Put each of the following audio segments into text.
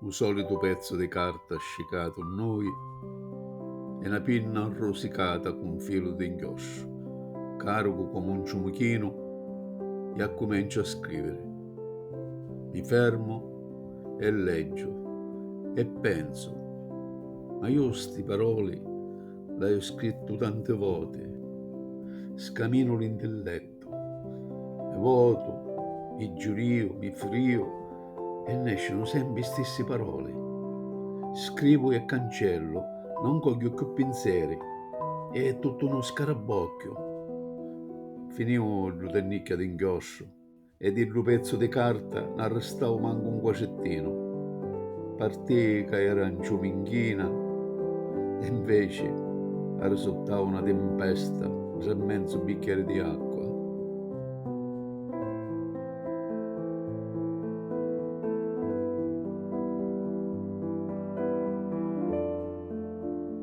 U solitu pezzu di carta scicatu nnoi e na pinna rusicata cu nfilu di nchiostru, caricu comu un ciumuchinu e accumenciu a scriviri. Mi fermu e leggiu e pensu. Ma iu sti paroli l'haiu scrittu tanti voti, scaminu l'intillettu, mi votu, mi giuriu, mi friu e nescinu sempri i stissi paroli. Scrivu e cancellu, non cogghiu cchiù pinseri e è tuttu nu scarabbocchiu. Finiu ddu tennicchia d'inchiostru. e di ddu pezzu di carta n'arristau mancu un quacettinu. Partì ca era nciù minchina e inveci arrisuttau na timpesta ntra menzu bicchieri di acqua.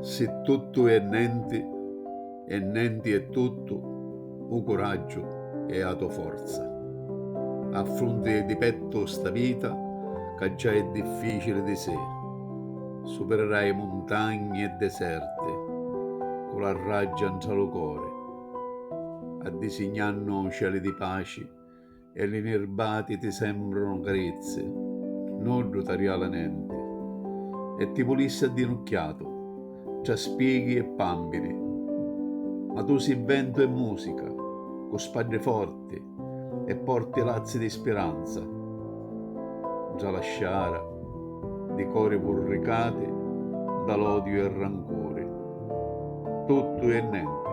Si tuttu è nenti e nenti è tuttu, u curaggiu è a to forza. Affrunti di pettu sta vita ca già è difficili di sé. Supirirai muntagni e deserti cu la raggia ntra lu cori, addisignannu cieli di paci E li nirbati ti sembrunu carizzi, nuddu t'arriala nenti. E ti vulissi addinucchiatu, tra spieghi e pàmpiri. Ma tu si' ventu e musica, cu spaddi forti e porti lazzi di spiranza. Ntra la sciara di cori vurricati nda l'odiu e rancuri. Tuttu e nenti.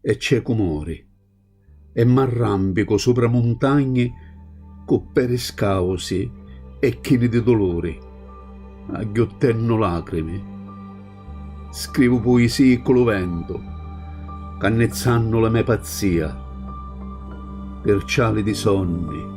e ciecu mori e m'arrampicu supra muntagni cu peri scausi e chini di duluri, agghiuttennu lacrimi, scrivu puisii ccu lu ventu, cannizzannu la me pazzia, pirciali di sonni.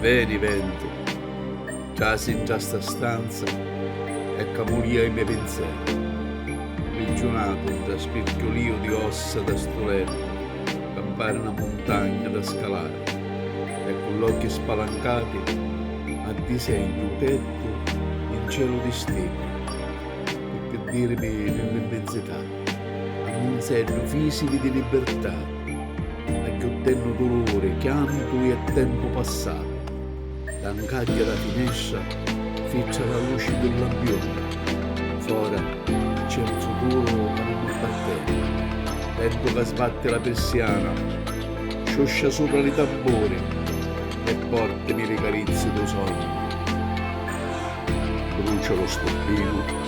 Veni ventu, trasi ntra sta stanza e camulia i me pinzeri, mprigiunatu ntra spirtulìu di ossa da stu lettu ca mpari na muntagna da scalari e cu l'occhi spalancati addisegnu u tettu in celu di stiddi, pi ddirimi nell'immensità. Alinzeddu fisivi di libirtà, agghiuttennu duluri, chiantu e tempu passatu. Da 'n cagghia dâ finestra fitra la luci dû lampioni. Fora c'è un futuru ca nun m'apparteni. Ventu ca sbatti la pirsiana, sciuscia supra li tamburi e portimi li carizzi dû sognu. Brucia lu stubbinu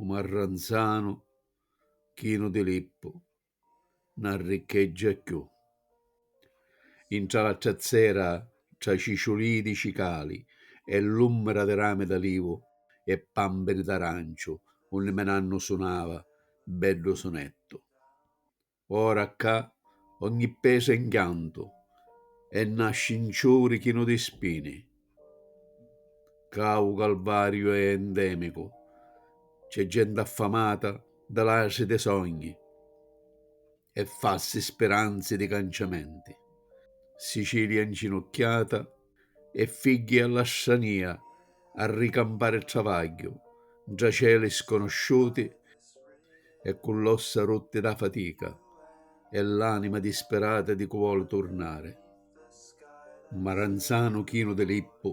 u marranzanu chinu di lippu na riccheggia cchiù intra la trazzera tra ciciulii di cicali e l'ummira di rami d'alivu e pambiri d'aranciu unni me nannu sunava beddu sunettu Ora ccà ogni pesu è 'nchiantu e na scinciuri chinu di spini. Ccà u calvariu è endemicu, c'è genti affamata di latri di sogni e falsi spiranzi di canciamenti. Sicilia 'nginucchiata E figghi a la stranìa a ricampari travagghiu, 'ntra celi sconosciuti e cu l'ossa rutti dâ fatica e l'anima dispirata di cu voli turnari. Maranzanu chinu di lippu.